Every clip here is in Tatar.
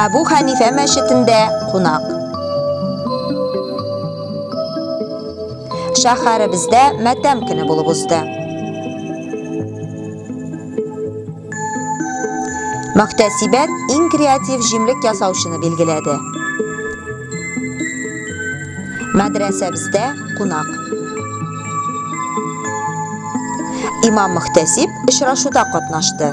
Әбу Хәнифә мәчетендә кунак. Шәһәребездә матәм көне булып узды. Мөхтәсибәт иң креатив җимлек ясаучыны билгеләде. Мәдрәсәбездә кунак. Имам Мөхтәсиб очрашуда катнашты.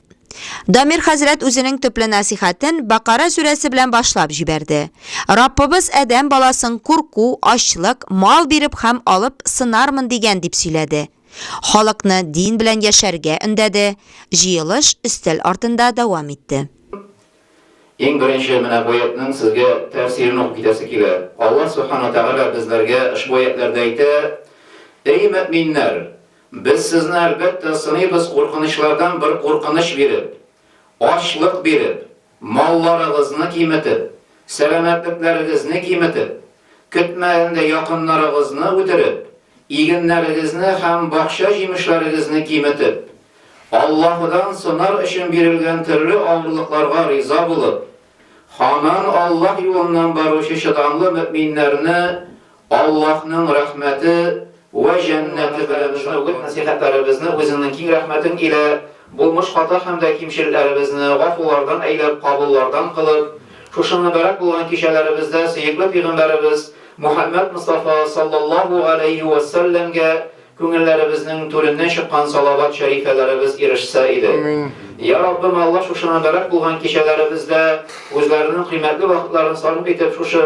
Дамир хәзрәт үзенең төпле насихәтен Бакара сүрәсе белән башлап җибәрде. Раббыбыз Адәм баласын курку, ачлык, мал биреп һәм алып сынармын дигән дип сөйләде. Халыкны дин белән яшәргә өндәде. Җыелыш өстәл артында дәвам итте. Иң беренче менә бу аятьнең сезгә тәфсирен укып китәсе килә. Аллаһ Субхана Тәгалә безләргә ошбу аятьләрдә әйтә, Әй мөэминнәр! Без сезне әлбәттә сыныйбыз куркынычлардан бер куркыныч биреп, ачлык биреп, малларыгызны киметеп, сәламәтлекләрегезне киметеп, көтмәгәндә якыннарыгызны үтереп, игеннәрегезне һәм бакча җимешләрегезне киметеп, Аллаһыдан сынар өчен бирелгән төрле авырлыкларга риза булып, Ханан Аллаһ юлыннан баручы чыдамлы мөэминнәрне Аллаһның рәхмәте вә җәннәте белән шат ит. Нәсыйхәтләребезне Үзеңнең киң рәхмәтең илә булмыш хата һәм дә кимчелекләребезне гафулардан әйләп, кабуллардан кылып, шушы мөбарәк булган кичәләребездә сөекле пигамбәребез Мухәммәд Мостафа саллаллаһу галәйһи вә сәлләмгә Күңелләребезнең түреннән чыккан салават шәрифәләребез ирешсә иде. Йа Раббым, Алла шушы мөбарәк булган кичәләребездә үзләренең кыйммәтле вакытларын сарыф итеп шушы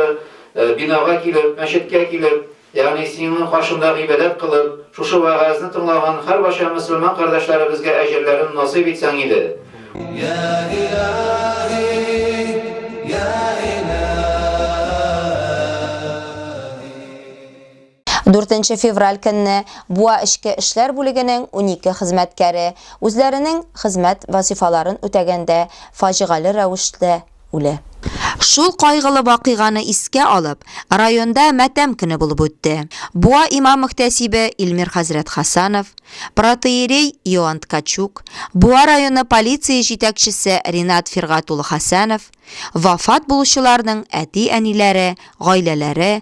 бинага килеп, мәчеткә килеп, ягъни Синең каршында гыйбадәт кылып, шушы вәгазьне тыңлаган һәрбача мөселман кардәшләребезгә әҗерләрен насыйп итсәң иде. Йа Илаһи, Йа Илаһи. Дүртенче февраль көнне Буа эчке эшләр бүлегенең унике хезмәткәре, үзләренең хезмәт вазифаларын үтәгәндә, фаҗигале рәвештә үлә. Шул кайгылы вакыйганы искә алып, районда матәм көне булып үтте. Буа имам-мөхтәсибе Илмир хәзрәт Хасанов, протоиерей Иоанн Ткачук, Буа районы полиция җитәкчесе Ринат Фиргать улы Хәсәнов, вафат булучыларның әти-әниләре, гаиләләре,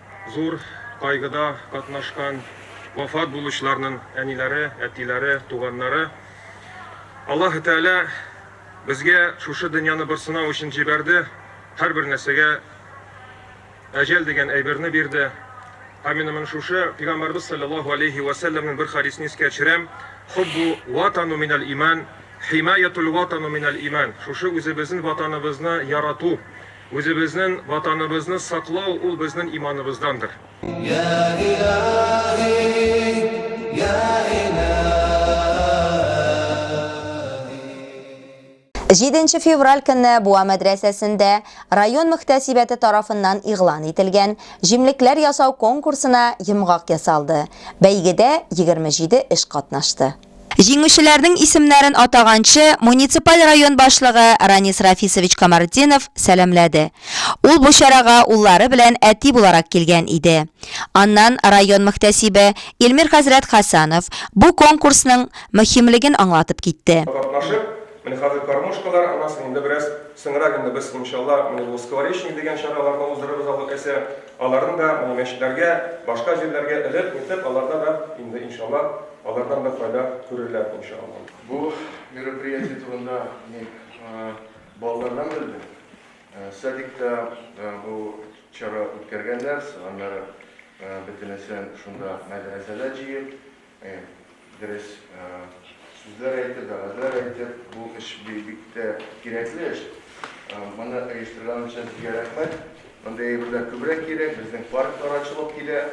Зур кайгыда катнашкан вафат булучыларның әниләре, әтиләре, туганнары. Аллаһы Тәгалә безгә шушы дөньяны бер сынау өчен җибәрде, һәрбер нәрсәгә әҗәл дигән әйберне бирде. Һәм мин моны шушы Пәйгамбәрбез саллаллаһу алейһи ва сәлләмнең бер хадисен искә төшерәм. Хуббу ватану минәл иман, химаятул ватану минәл иман. Шушы үзебезнең ватаныбызны ярату, Үзебезнен ватаныбызны саклау ул безнен иманыбыздандыр. Йә илаһи, йә илаһи. Җиденче февраль көнне Буа мәдрәсәсендә район мөхтәсибәте тарафыннан игълан ителгән җимлекләр ясау конкурсына йомгак ясалды. Бәйгедә егерме җиде эш катнашты. Җиңүчеләрнең исемнәрен атаганчы, муниципаль район башлыгы Ранис Рафисович Камартдинов сәламләде. Ул бу чарага уллары белән әти буларак килгән иде. Аннан район мөхтәсибе Илмир хәзрәт Хәсанов бу конкурсның мөһимлеген аңлатып китте. Катнашып, менә хәзер кормушкалар, аннан соң инде бераз соңрак инде без, иншалла, менә бу Скворечник дигән чараларны уздырырбыз алла теләсә. Аларны да менә мәчетләргә, башка җирләргә элеп-нитеп, аларда да инде, иншалла, Алардан да файда күрерләр, иншалла. Бу мероприятие турында мин балалардан белдем. Садикта бу чара үткәргәннәр, аннары бөтенесен шунда мәдрәсәдә җыеп, дөрес сүзләр әйтеп, вәгазьләр әйтеп, бу эш бик тә кирәкле эш. Моны оештырган өчен сезгә рәхмәт. Мондый әйберләр күбрәк кирәк, безнең парклар ачылып килә.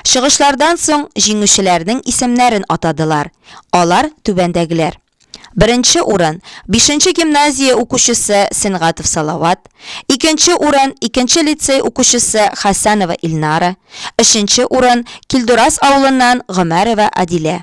Чыгышлардан соң җиңүчеләрнең исемнәрен атадылар. Алар түбәндәгеләр. Беренче урын, бишенче гимназия укучысы Сенгатов Салават, икенче урын, икенче лицей укучысы Хәсәнова Илнара, өченче урын, Килдурас авылыннан Гомәрова Адилә.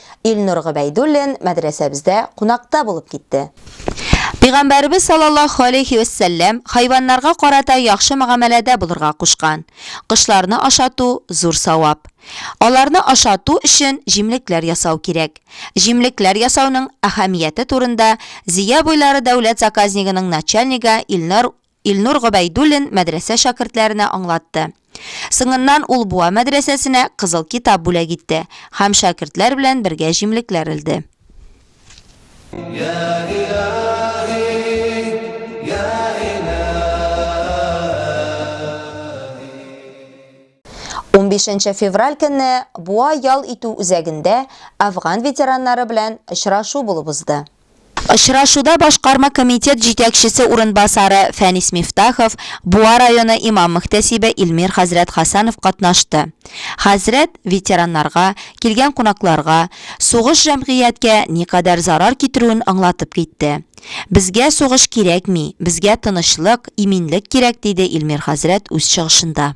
Илнур Гобәйдуллин мәдрәсәбездә кунакта булып китте. Пигамбәребез саллаллаһу алейһи вә сәлләм хайваннарга карата яхшы мөгамәләдә булырга кушкан. Кошларны ашату, зур савап. Аларны ашату өчен җимлекләр ясау кирәк. Җимлекләр ясауның әһәмияте турында Зөя буйлары дәүләт заказнигының начальнигы Илнур Илнур Гобәйдуллин мәдрәсә шәкертләренә аңлатты. Соңыннан ул Буа мәдрәсәсенә Кызыл китап бүләк итте һәм шәкертләр белән бергә җимлекләр элде. Унбишенче февраль көнне Буа ял итү үзәгендә әфган ветераннары белән очрашу булып узды. Очрашуда башкарма комитет җитәкчесе урынбасары Фәнис Мифтахов, Буа районы имам-мөхтәсибе Илмир хәзрәт Хәсәнов катнашты. Хәзрәт ветераннарга, килгән кунакларга, сугыш җәмгыятькә никадәр зарар китерүен аңлатып китте. Безгә сугыш кирәкми, безгә тынычлык, иминлек кирәк, диде Илмир хәзрәт үз чыгышында.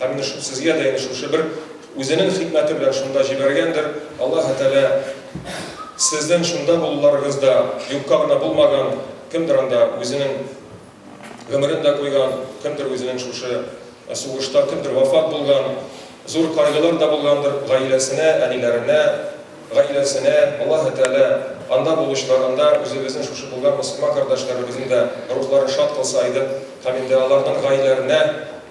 Ә менә шул сезгә дә инде шушы бер үзенең хикмәте белән шунда җибәргәндер. Аллаһы Тәгалә сезнең шунда булуларыгыз да юкка гына булмаган, кемдер анда үзенең гомерен дә куйган, кемдер үзенең шушы сугышта кемдер вафат булган, зур кайгылар да булгандыр гаиләсенә, әниләренә, гаиләсенә, Аллаһы Тәгалә анда булучыларында үзебезнең шушы булган мөселман кардәшләребезнең дә рухларын шат кылса иде һәм инде аларның гаиләренә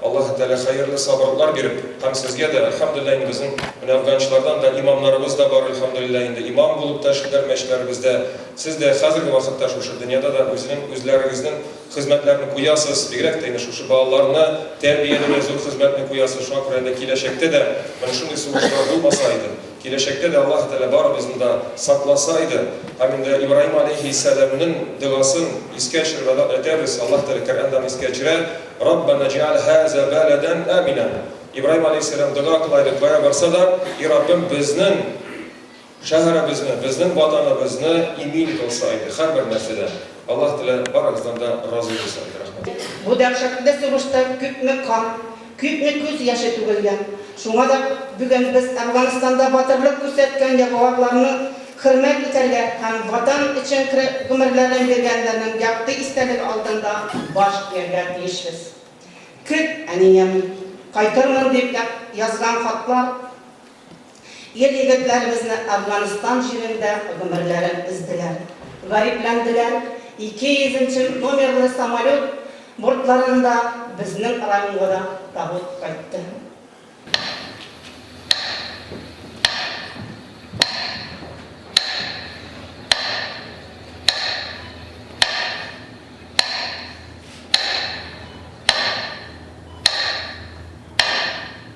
Аллаһы Тәгалә хәерле сабырлар биреп һәм сезгә дә, әлхәмдүлилләһ, инде безнең менә Әфганчылардан да имамнарыбыз да бар, әлхәмдүлилләһ, инде имам булып та эшлиләр мәчетләребездә, сез дә хәзерге вакытта шушы дөньяда да үзенең үзләрегезнең хезмәтләрен куясыз, бигрәк тә инде шушы балаларны тәрбияләүдә зур хезмәтне куясыз, шуңа күрә инде киләчәктә дә менә шундый сугышлар булмаса иде. Киләчәктә дә Аллаһ Тәгалә барыбызны да сакласа иде, һәм инде Ибраһим галәйһиссәламнең догасын искә төшереп әйтәбез, Аллаһ Тәгалә Коръәнда аны искә төшерә, Раббана җәгәл һаза бәләдән әминә. Ибраһим галәйһиссәлам дога кыла иде, кая барса да, И Раббым, безнең шәһәребезне, безнең ватаныбызны имин кылса иде, һәрбер нәрсәдән. Аллаһ Тәгалә барыгыздан да разый булсын иде. Рәхмәт. Бу дәһшәтле сугышта күпме кан. Күпме күз яше түгелгән. Шуңа да бүген без Әфганстанда батырлык күрсәткән яфуарларны хөрмәт итәргә һәм Ватан өчен гомерләрен биргәннәрнең якты истәлеге алдында баш ияргә тиешбез. Көт, әнием, кайтырмын, дип язган хатлар. Ир-егетләребезне Әфганстан җирендә гомерләрен өзделәр, гарипләнделәр, ике йөзенче номерлы самолет бортларында безнең районга да табут кайтты.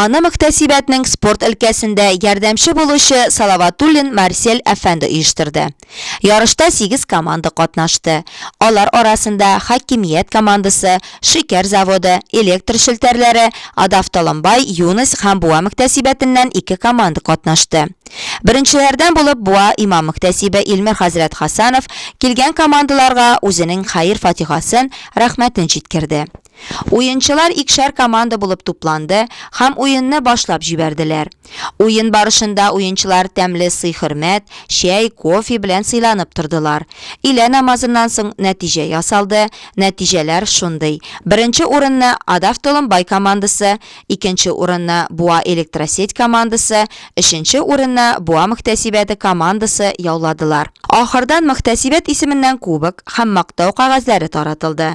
Аны мөхтәсибәтнең спорт өлкәсендә ярдәмче булучы Салаватуллин Марсель әфәнде оештырды. Ярышта сигез команда катнашты. Алар арасында Хакимият командасы, Шикәр заводы, Электр челтәрләре, Адавтоломбай, Юность һәм Буа мөхтәсибәтеннән ике команда катнашты. Беренчеләрдән булып Буа имам-мөхтәсибе Илмир хәзрәт Хасанов килгән командаларга үзенең хәер-фатихасын, рәхмәтен җиткерде. Уенчылар икшәр команда булып тупланды һәм уенны башлап җибәрделәр. Уен барышында уенчылар тәмле сый-хөрмәт, чәй, кофе белән сыйланып тордылар. Илә намазыннан соң нәтиҗә ясалды, нәтиҗәләр шундый. Беренче урынны Адавтоломбай командасы, икенче урынны Буа Электросеть командасы, өченче урынны Буа мөхтәсибәте командасы яуладылар. Ахырдан мөхтәсибәт исеменнән кубок һәм мактау кәгазьләре таратылды.